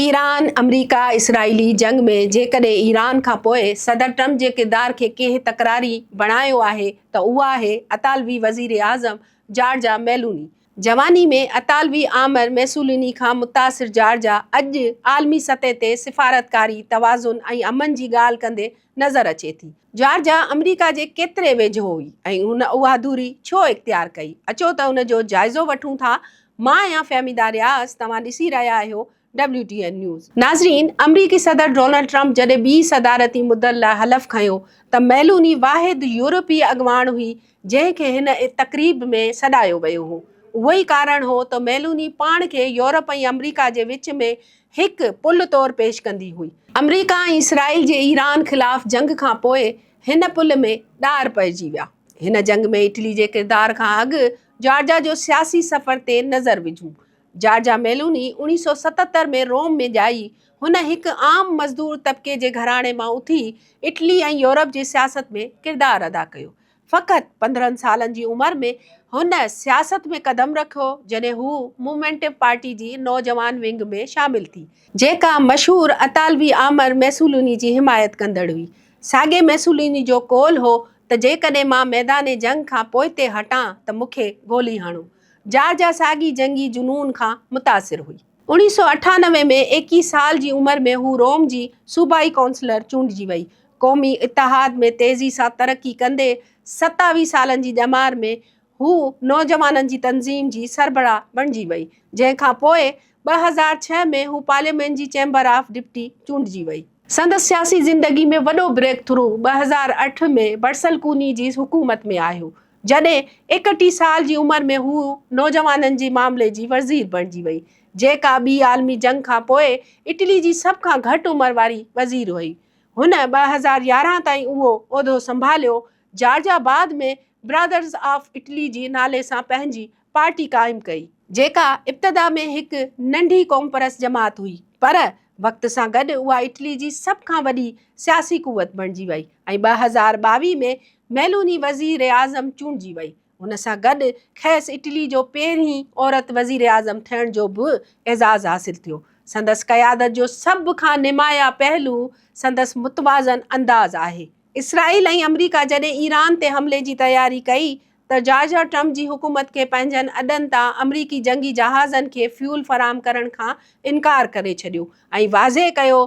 Iran, آمريڪا اسرائيلي جنگ ۾ جيڪڏهن ايران کان پوء صدر ٽرمپ جي ڪردار کي ڪنهن تڪراري بڻايو آهي ته اهو آهي اطالوي وزيراعظم جارجا ميلوني. جواني ۾ اطالوي آمر ميسوليني کان متاثر جارجا اڄ عالمي سطح تي سفارتڪاري، توازن ۽ امن جي ڳالهه ڪندي نظر اچي ٿي. جارجا آمريڪا جي ڪيتري ويجهو هئي ۽ هن اها دوري ڇو اختيار ڪئي؟ اچو ته ان جو جائزو وٺون ٿا. مان آهيان فهميده رياض، توهان ڏسي رهيا آهيو ڊبليو ٽي اين نيوز. ناظرين، آمريڪي صدر ڊونلڊ ٽرمپ جڏهن ٻي صدارتي مدت لاء حلف کنيو ته ميلوني واحد يورپي اڳواڻ هئي جنهن کي هن تقريب ۾ سڏايو ويو هو. اهو ئي ڪارڻ هو ته ميلوني پاڻ کي يورپ ۽ آمريڪا جي وچ ۾ هڪ پل طور پيش ڪندي هئي. آمريڪا ۽ اسرائيل جي ايران خلاف جنگ کان پوء هن پل ۾ ڏار پئجي ويا. هن جنگ ۾ اٽلي جي ڪردار کان اڳ جارجا جو سياسي سفر تي نظر وجهون. جارجا ميلوني اوڻيهه سؤ ستهتر ۾ روم ۾ ڄائي. هن هڪ عام مزدور طبقي جي گهراڻي مان اٿي اٽلي ۽ يورپ جي سياست ۾ ڪردار ادا ڪيو. فقط پندرهن سالن جي عمر ۾ هن سياست ۾ قدم رکيو جڏهن هو مومينٽو پارٽي جي نوجوان ونگ ۾ شامل ٿي، جيڪا مشهور اطالوي آمر ميسولوني جي حمايت ڪندڙ هئي، ساڳي ميسولوني جو قول هو ته جيڪڏهن مان ميدان جنگ کان پوئتي هٽان ته مون کي گولي هڻو. جارجا ساڳي جنگي جنون کان متاثر هئي. اوڻيهه سؤ اٺانوي ۾ ايڪيهه سال جي عمر ۾ هو روم جي صوبائي ڪائونسلر چونڊجي وئي. قومي اتحاد ۾ تيزي سان ترقي ڪندي ستاويهه سالن جي ڄمار ۾ هو نوجوانن جي تنظيم جي سربراهه بڻجي وئي، جنهن کان پوء ٻه هزار ڇهه ۾ هو پارليامينٽ جي چيمبر آف ڊپٽي چونڊجي وئي. سندس سياسي زندگي ۾ وڏو بريڪ ٿرو ٻه هزار اٺ ۾ برسلڪوني جي حڪومت ۾ آيو، جڏهن ايڪٽيهه سال جي عمر ۾ هوء نوجوانن جي معاملي جي وزير بڻجي وئي، جيڪا ٻي عالمي جنگ کان پوء اٽلي جي سڀ کان گهٽ عمر واري وزير هئي. هن ٻه هزار يارهن تائين اهو عهدو سنڀاليو. جارجا بعد ۾ برادرز آف اٽلي جي نالي سان پنهنجي پارٽي قائم ڪئي. جيڪا ابتدا ۾ هڪ ننڍي قومپرست جماعت هئي، پر وقت سان گڏ اها اٽلي جي سڀ کان وڏي سياسي قوت بڻجي وئي ۽ ٻه هزار ٻاويهه ۾ ميلوني وزيراعظم چونڊجي وئي. ان سان گڏ کيس اٽلي جو پهرين عورت وزيراعظم ٿيڻ جو به اعزاز حاصل ٿيو. سندس قيادت جو سڀ کان نمايان پهلو سندس متوازن انداز آهي. اسرائيل ۽ آمريڪا جڏهن ايران تي حملي جي تياري ڪئي ته جارج ۽ ٽرمپ جي حڪومت کي پنهنجن اڏن تان آمريڪي جنگي جهازن کي فيول فراهم ڪرڻ کان انڪار ڪري ڇڏيو ۽ واضح ڪيو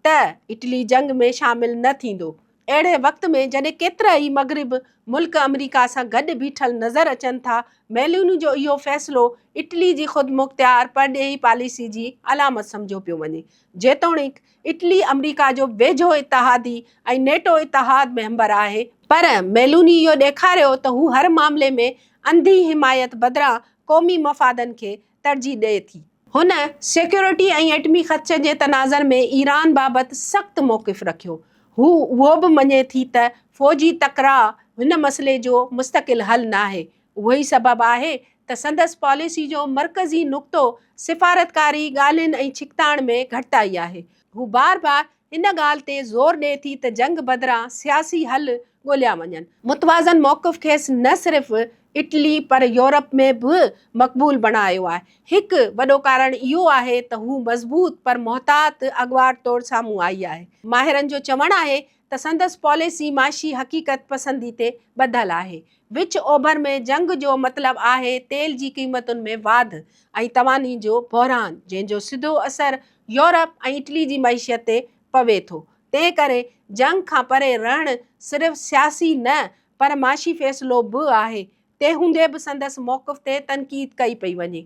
ته اٽلي جنگ ۾ شامل نه ٿيندو. اهڙي وقت ۾ جڏهن ڪيترا ئي مغرب ملڪ آمريڪا سان گڏ بيٺل نظر اچن ٿا، ميلوني جو اهو فيصلو اٽلي جي خودمختيار پرڏيهي پاليسي جي علامت سمجهيو پيو وڃي، جيتوڻيڪ اٽلي آمريڪا جو ويجهو اتحادي ۽ نيٽو اتحاد ميمبر آهي، پر ميلوني اهو ڏيکاريو ته هو هر معاملي ۾ انڌي حمايت بدران قومي مفادن کي ترجيح ڏئي ٿي. هن سيڪيورٽي ۽ ايٽمي خدشن جي تناظر ۾ ايران بابت سخت موقف رکيو. هو اهو به مڃي ٿي ته فوجي تڪراء هن مسئلي جو مستقل حل ناهي، اهو ئي سبب آهي ته سندس پاليسي جو مرڪزي نقطو سفارتڪاري ڳالهين ۽ ڇڪتاڻ ۾ گهٽتائي آهي. هو بار بار ان ڳالهه تي زور ڏئي ٿي ته جنگ بدران سياسي حل ڳوليا وڃن. متوازن موقف کيس نه صرف اٽلي پر يورپ ۾ به مقبول بڻايو آهي. هڪ وڏو ڪارڻ اهو آهي ته هو مضبوط پر محتاط اڳواٽ طور سامهون آئي آهي. ماهرن جو چوڻ آهي ته سندس پاليسي معاشي حقيقت پسندي تي ٻڌل آهي. وچ اوڀر ۾ جنگ جو مطلب آهي تيل جي قيمتن ۾ واڌ ۽ تواني جو بحران جنهن جو سڌو اثر يورپ ۽ اٽلي جي معيشت تي پوي ٿو. تنهن ڪري جنگ کان پري رهڻ صرف سياسي نه پر معاشي فيصلو به آهي. تنهن هوندي به سندس موقف تي تنقيد ڪئي پئي وڃي.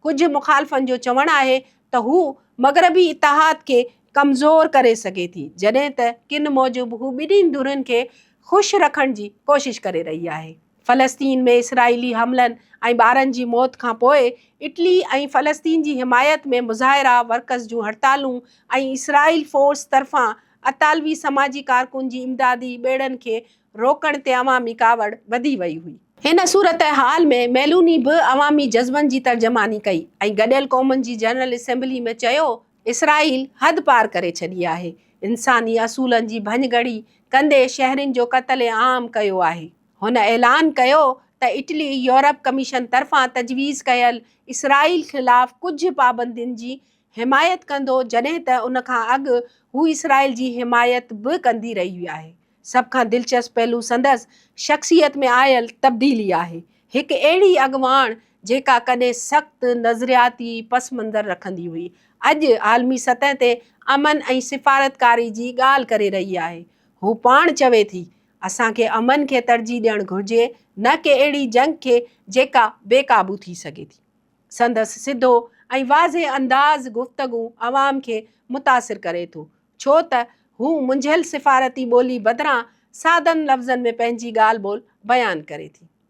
ڪجهه مخالفن جو چوڻ آهي ته هو مغربي اتحاد کي ڪمزور ڪري سگهي ٿي، جڏهن ته ڪن موجب هو ٻنهي ڌرين کي خوش رکڻ جي ڪوشش ڪري رهي آهي. فلسطين ۾ اسرائيلي حملن ۽ ٻارن جي موت کان پوء اٽلي ۽ فلسطين جي حمايت ۾ مظاهرا، ورڪرز جون هڙتالون ۽ اسرائيل فورس طرفان اطالوي سماجي ڪارڪن جي امدادي ٻيڙن کي روڪڻ تي عوامي ڪاوڙ وڌي وئي هئي. هن صورتحال ۾ ميلوني به عوامي جذبن جي ترجماني ڪئي ۽ گڏيل قومن جي جنرل اسيمبلي ۾ چيو اسرائيل حد پار ڪري ڇڏي آهي، انساني اصولن جي ڀڃڳڙي ڪندي شهرين جو قتل عام ڪيو آهي. هن اعلان ڪيو ته اٽلي يورپ ڪميشن طرفان تجويز ڪيل اسرائيل خلاف ڪجهه پابندين جي حمايت ڪندو جڏهن ته ان کان اڳ هو اسرائيل جي حمايت به ڪندي رهي آهي. سڀ کان دلچسپ پهلو سندس شخصيت ۾ آيل تبديلي آهي. هڪ اهڙي اڳواڻ جيڪا ڪڏهن سخت نظرياتي پس منظر رکندي هئي، اڄ عالمي سطح تي امن ۽ سفارتڪاري جي ڳالهه ڪري رهي آهي. هو پاڻ چوي ٿي، اسان کي امن کي ترجيح ڏيڻ گهرجي نه ڪي اهڙي جنگ کي جيڪا بي قابو ٿي سگهي ٿي. سندس سڌو ۽ واضح انداز گفتگو عوام کي متاثر ڪري ٿو. ڇو ته هو منجهيل سفارتي ٻولي بدران سادن لفظن ۾ پنهنجي ڳالهه ٻولهه بيان ڪري ٿي.